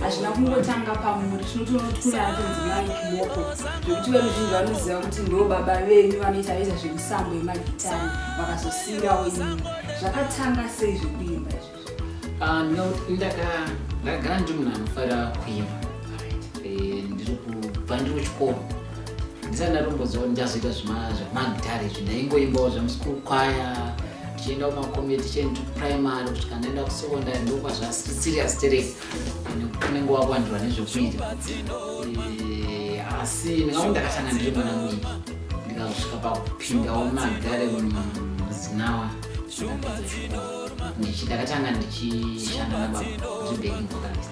hazvina kungotanga pamuri tinotoona kuti kune atonzi mai kiboko zvekuti veruzhinji vanoziva kuti ndo baba venyu vanoita veza zvemisambo yemagitani vakazosiyirawo imi zvakatanga sei zvekuimba izvozvo ndagara ndiri munhu anofara kuimba eh, ndiri kubva ndiri kuchikoro ndisati ndatomboziva kuti ndichazoita zvemagitare izvi ndaingoimbawo zvemuschool kwaya tichienda kumakomiti tichienda kuprimary kusvika ndaenda kusecondary ndokuva zvasiri serious tere unenge wakuwandirwa nezvekuita asi ndingaku ndakatanga ndiri mwana mui ndikazosvika pakupindawo magare muzinawa ndichi ndakatanga ndichishanda nababa zvibhekingokanisa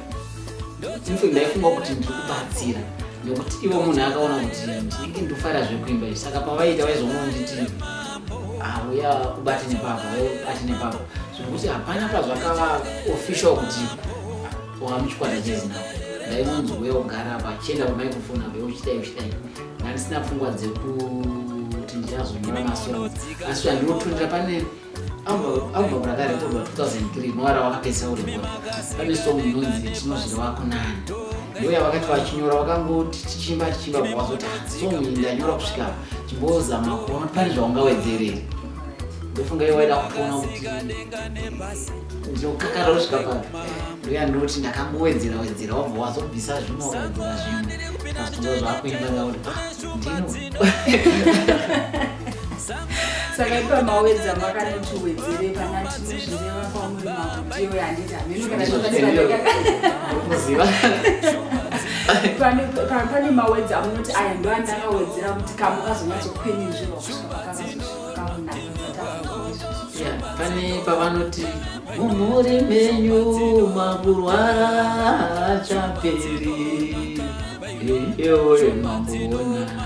Ndiko ndaifunga kuti ndiri kubatsira nekuti ivo munhu akaona kuti ndinenge ndofara zvekuimba izvi saka pavaita vaizoona nditi hauya ah, kubati nepavo ati nepavo zvekuti hapana pazvakava official kuti wamuchikwata chezina ndainonzi uya kugara pachienda pamaikufona be uchitai uchitai ndandisina pfungwa dzekuti ndichazonyora masongs asi zvandinotondera pane album rakarekodwa 2003 rinova ravakapedzisa kurekoda pane song inonzi tinozviri wako nani ndoya vakati vachinyora vakangoti tichimba tichimba vawazoti song iyi ndanyora kusvika chimbozama kuona kuti pane zvaungawedzerere ndofunga iyo waida kutoona kuti ndokakara kusvika pa ndoya ndoti ndakangowedzera wedzera wabva wazobvisa zvimwe wakawedzera zvimwe azvitova zvakuimba ngakuti ah, ndino saka ipa mawedza makanoti wedzere kana tinozvireva kwamuri makuti iwe handiti hameno kana pane mawedza amunoti aya ndo andakawedzera kuti kamu kazonyatsokwenenzvirwa kusvika pakazozvikaunapane pavanoti mumhuri menyu makurwara achaperi eyoyo mamboona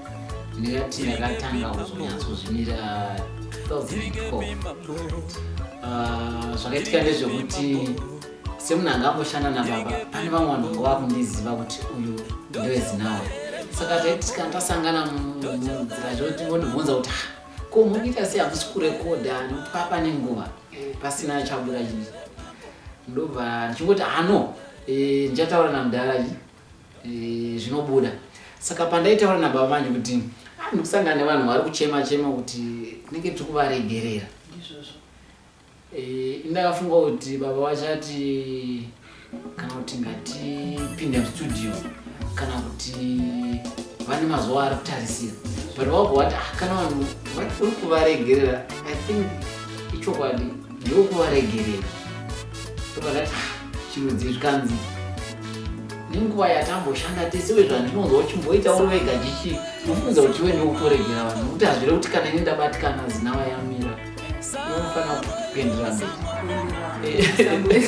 ndingati yakatanga kuzonyatsozvimira 2012 ah, zvakaitika ndezvekuti semunhu anga amboshanda nababa pane vamwe vanhu vanga vakundiziva kuti uyu ndoezinawo saka taitika tasangana munzira zvekuti vondibvunza kuti ah, ko munoita sei hamusi kurekodha nokuti papa nenguva eh, pasina achabuda chii ndobva ndichingoti ano ah, eh, ndichataura namudhara chii zvinobuda saka pandaitaura nababa manje kuti ah, ndikusangana nevanhu vari kuchema chema kuti tinenge tiri kuvaregerera eh, ndakafunga kuti baba vachati kana kuti ngatipinde mustudio kana kuti vane mazuva ari kutarisira but wabva wati ah, kana vanhu uri kuvaregerera i think ichokwadi ndokuvaregerera ndokandati ah, chirudzi zvikanzi nenguva yatamboshanda tese wezvandinonzwa uchimboita uri wega chichi ufunza kuti iwe ndikutoregera vanhu nokuti hazvire kuti kana ini ndabatikana zinava yamira unofanira kupendera mberi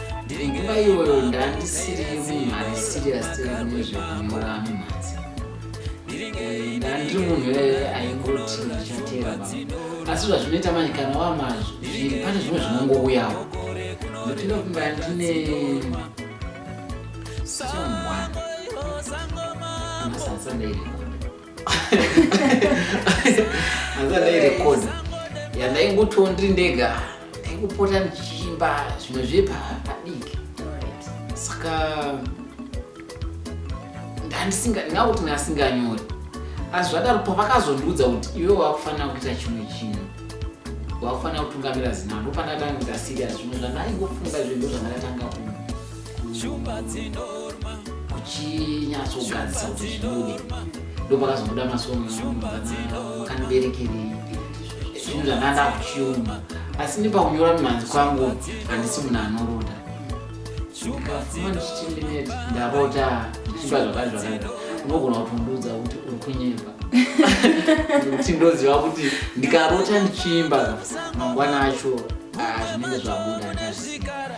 ndiri nguva iyoyo ndandisiri mumhari serious nezvekunyora mumhanzi ndandiri munhu iyoyo aingoti ndichateera baba asi zvazvinoita manje kana wamazvo zviri pane zvimwe zvinongouyawo ndopinda kumba ndine somwana masansandairiko andairecord yandaingotiwo ndiri ndega ndaingopota ndichiimba zvimwe zvepadiki saka ndandisingaakuti ndasinganyori asi zvadaro pavakazondiudza kuti iwe wakufanira kuita chimwe chinhu wakufanira kutungamira zinaa ndopandatanga kuita sirias zvimwe zvandaingofunga zvinhu zvandatanga ku Shumba dzinorma kuchinyatsogadzisa kuti zvibude ndopakazobuda masongakandiberekeri zvinhu zvanga ndakuchiuma asi nepaunyora mimhanzi kwangu handisi munhu anoroda ndikafuma ndichichindineti ndarota ndichiba zvakazvakada unogona kutondiudza kuti uri kunyeba kuti ndoziva kuti ndikarota ndichiimba mangwana acho ah, zvinenge zvabuda ndazvizigara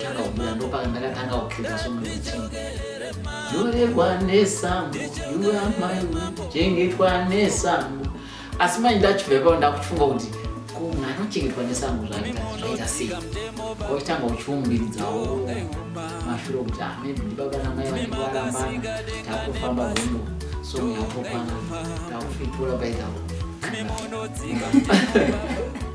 ndakauya ndopaka ndakatanga kukheta somuti nyorerwa nesambo yuamai chengetwa nesambo asi manje ndachibva ipapo ndakuchifunga kuti mwana ochengetwa nesambo zvaita sei kochitanga uchiumbiridzawo mashuro kuti amene ah, ndibaba namai vanenge varambana takufamba hondo so yatokwana takufitura paitawo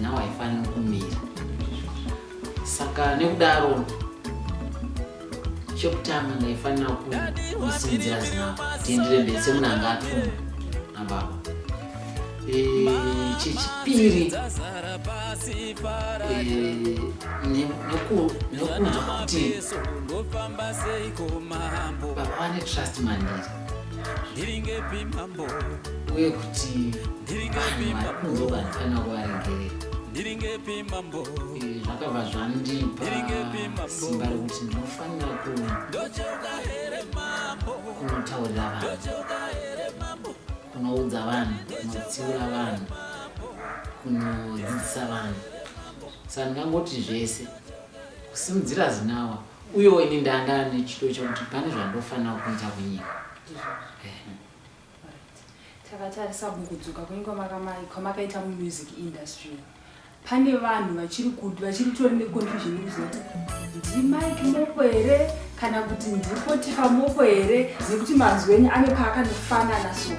Now I find kumira. Saka nekudaro chekutanga ndaifanira kusinzira zina tiendere mberi semunhu anga atuma nababa chechipiri nekunzwa kuti baba vane trust mandiri uye kuti vanozobandikana kuvaregerezvakabva eh, zvandipa simba rekuti ndinofanira kunotaurira vanhu kunoudza vanhu kunotsiura vanhu kunodzidzisa vanhu saka ndingangoti zvese kusimudzira zinawa Uyewo ini ndanga nechido chekuti pane zvandofanira kuunza kunyika. Takatarisa kukudzoka kwenyu kwamakaita mumusic industry pane vanhu vachiri kuti vachiri tori neconfusion yekuziva kuti ndimike moko here kana kuti ndipotifa moko here nekuti mazwi enyu ane paakanofanana so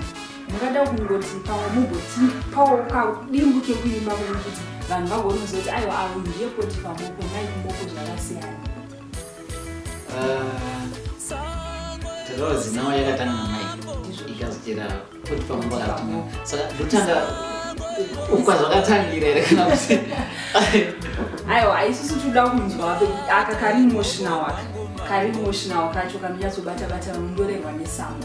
ndakada kungoti pamwe mumbotipawo kadimbu kekuimba kune kuti vanhu vagonoziva kuti aiwa avo ndiye poti pamoko naikumboko zvakasiyana rose nawo yakatanga namai ikazotera poti pamoko atinga saka ndotanga ufa zvakatangira here kana kuti aiwa aisusu toda kunzwa aka kari emotional aka kari emotional kacho kanonyatsobata bata vanondorerwa nesambo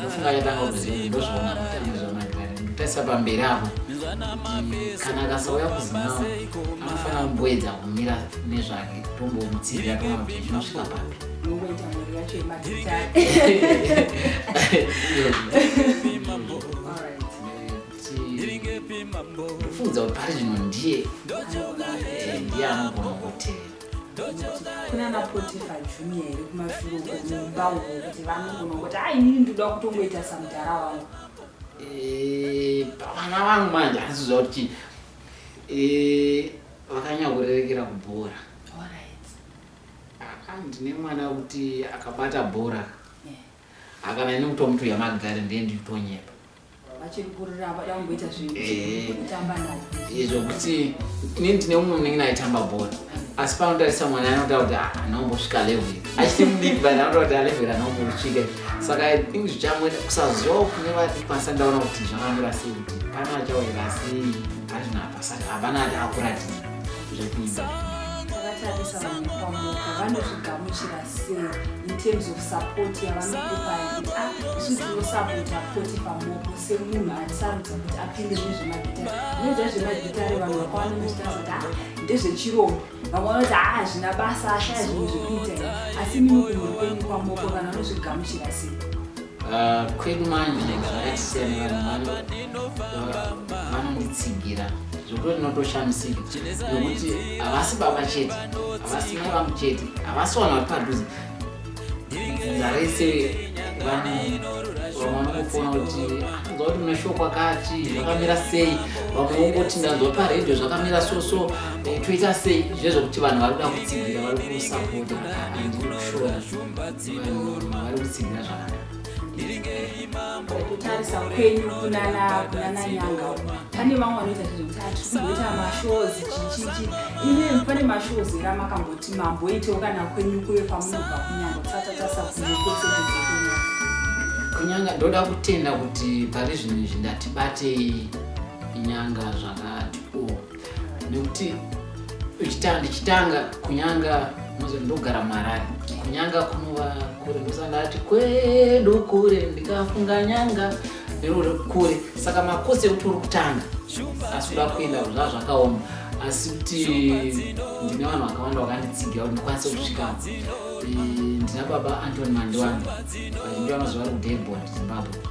ndofunga yatanga kuzii ndozvaona kuti anezvamagari ndikutaisa pamberi apo kana akasauya kuzimawa anofanira kumboedza kumira nezvake tombomutsiira toona kuti zvinosvika papi ndofunza kuti pari zvino ndiye ndiye anogona kutevera kuna napotifa junior here kumashure uko mumba uko kuti vanogona kuti a inini ndoda kutongoita samudhara wangu eh, vana vangu manje handiziva kuti chii eh, vakanyakurerekera kubhora ah, ndine mwana wekuti akabata bhora akana ini kutomutuya magari ndiye nditonyepa vachiri kurira vada kumboita zvinhu eh. kutamba naye izvo kuti inini ndine umwe munenge naitamba bhora asi panotarisa mwana anotaura kuti ah, anombosvika level achiti mudiki but anotaura kuti alevel ah, anombosvika saka i think zvichamwe kusaziva kune vatipasa ndaona kuti zvakamira sei kuti kana achaurira sei azvina pasati havana ati akuratidza zvekuita vanotigamuchira in terms of support yavanokupa yekuti a ah, isu tinosapota poti pamoko semunhu atisarudza kuti apinde mune zvemagitare zvinoita zvemagitare vanhu vakawana muzvitara kuti a ah, ndezvechirombo vamwe vanoti haa ah, zvina basa ashaya zvinhu zvekuita asi mimi kunhu kwenyu kwamoko kana anozvigamuchira sei Ah, kwedu manje zvakasiyana vanhu vanonditsigira zvekuti ndinotoshamisika nekuti havasi baba chete havasi mai vangu chete havasi vanhu vari padhuze dzinza rese vanokufona kuti anzwa kuti mune shoko akati zvakamira sei vamwe vongoti ndanzwa paredhio zvakamira soso eh, toita sei zvezvekuti vanhu vari kuda kutsigira vari kusapota andinoshona kutarisa kwenyu kunana kunana nyanga pane vamwe vanoita zvekuti hatikuita mashows chichichi imi pane mashows era makamboti mamboitewo kana kwenyu kuye kwamunobva kunyanga kusatatarisa kunyanga kunyanga ndoda kutenda kuti pari zvinhu izvi ndatibatei inyanga zvakati o nekuti uchitanga ndichitanga kunyanga mozo ndogara muharare kunyanga kunova kure ndosandati kwedu kure ndikafunga nyanga neruri kure saka makosi ekuti uri kutanga asi uda kuenda zva zvakaoma asi kuti ndine vanhu vakawanda vakanditsigira kuti ndikwanise kusvika ndina baba antony mandiwani vazhinji vanoziva vari kudelbon zimbabwe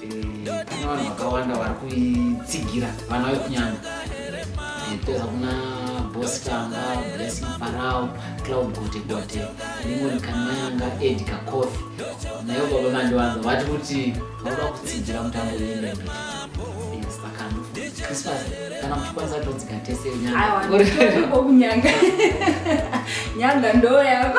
vanhu vakawanda vari kuitsigira vana vekunyanga kupedza kuna bosi tanga blessing farao cloud gote gote limoni kanayanga ed kakofi nayo baba mandiwanza vati kuti vanoda kutsigira mutambo weimembe christmas kana muchikwanisa todzika tese nyanga nyanga ndoyako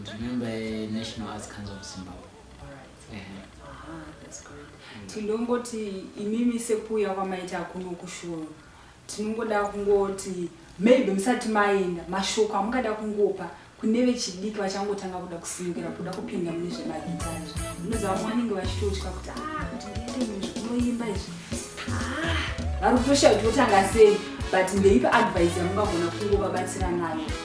Ndimemba yeNational Arts Council of Zimbabwe. Tinongoti imimi sekuuya kwamaita kuno kushoro tinongoda kungoti maybe musati maenda mashoko amungada kungopa kune vechidiki vachangotanga kuda kusimukira kuda kupinda mune zvemagitari munoziva vamwe vanenge vachitotya kuti ah, kuti ndiite munhu zvinoimba izvi ah, vari kutoshaya kuti votanga sei but ndeipa advice yamungagona kungovabatsira nayo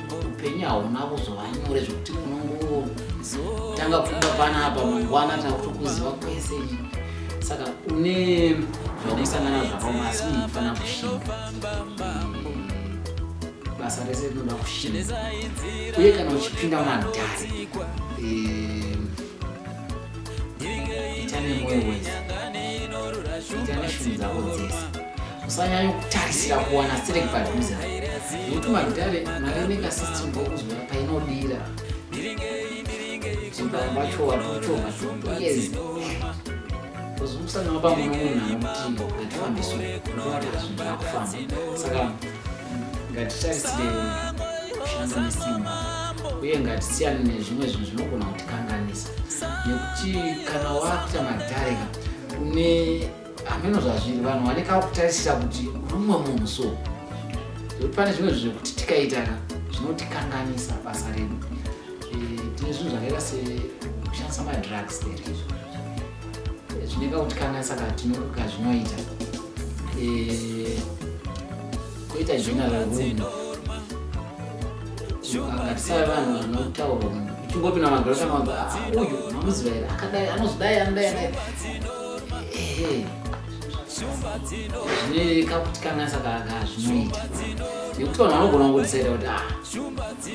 upenyu hauna kuzova nyore zvekuti unongotanga pfumba panapa mangwana takutokuziva kwese saka une zvakusangana zvakaoma asi munhu unofanira kushinga basa rese rinoda kushinga uye kana uchipinda madhari eh, ita nemoyo wese ita neshunhu dzako dzese usanyanya kutarisira kuwana sirek padhuze nekuti magitare mareneka system okuzwa painodira vacho vatochoma yes uzimusana wapa muno munhu anomutimbo ngatifambiso ndovataazvinakufamba saka ngatitarisire kushanda nesimba uye ngatisiyane nezvimwe zvinhu zvinogona kutikanganisa nekuti kana wakuita madareka une hameno zvazviri vanhu vane kakutarisira kuti rumwe munhu so zvekuti pane zvimwe zvinhu zvekuti tikaitana zvinotikanganisa basa redu eh, tine zvinhu zvakaita sekushandisa madrugs there eh, zvine kakutikanganisa kazvinoita eh, koita general run akatisava vanhu vanotaura uchingopinda magorosa mauyu mamuzivaira akadai anozidai anodai zvine kakuti kanasa kaga zvinoita nekuti vanhu vanogona kungotisaita kuti a ah,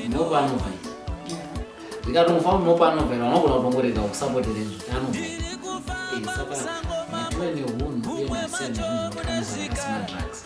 mopa anobva ndikati mufa munopa anobva vanogona kutongorega kusapotere kuti anobva eh, saka matove nehunhu uye masiyana zvinhu zvakakanasa zvakasima drugs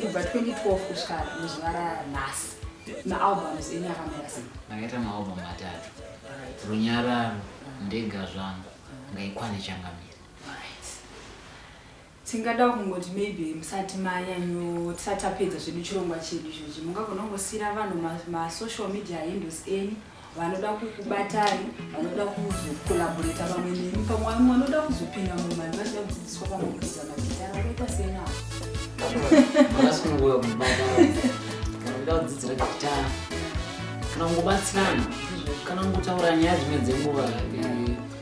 kubva 2012 kusvika muzuva ranhasi maalbums enyu akamira sei ndakaita maalbum matatu runyararo ndega zvangu ngaikwane changamira tingada kungoti maybe musati manyanyo tisati tapedza zvedu chirongwa chedu izvozvi mungagona kungosiyira vanhu masocial media handles enyu vanoda kukubatai vanoda kuzokolaboreta vamwe nemi pamwe vamwe vanoda kuzopinda mumani vachida kudzidziswa pamwe kuita magitara vakaita sei navo vakasununguka kubata vanoda kudzidzira gitara kana kungobatsirana kana kungotaura nyaya dzimwe dzenguva eh,